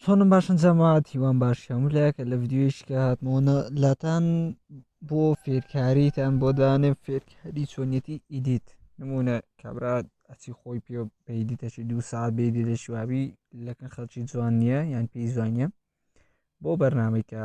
چۆنم باشن جەماعات هیوان باشی هەموو لایەکە لە ڤیددیویشکە هاتمەوە لاتان بۆ فێرکاریتان بۆ دانێ فێرکاری چۆنیەتی ئیدیت نمونە کابرا ئەچی خۆی پێ پێدیتەشی دوو ساعت بێدی لە شوابی لەکن خەڵکی جوان نییە یان پێی زوانە بۆ بەرنمێکە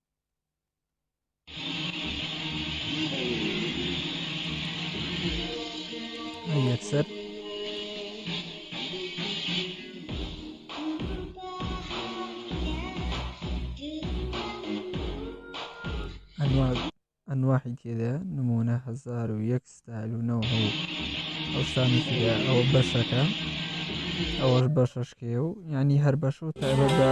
یەکسەر ئەنواحی تێدا نمونە هزار و یەک ستال و نەوە ئەوسانی تێدا ئەوە بەشەکە ئەوەش بەشەشکێ و ینی هەر بەش و تایبەت بە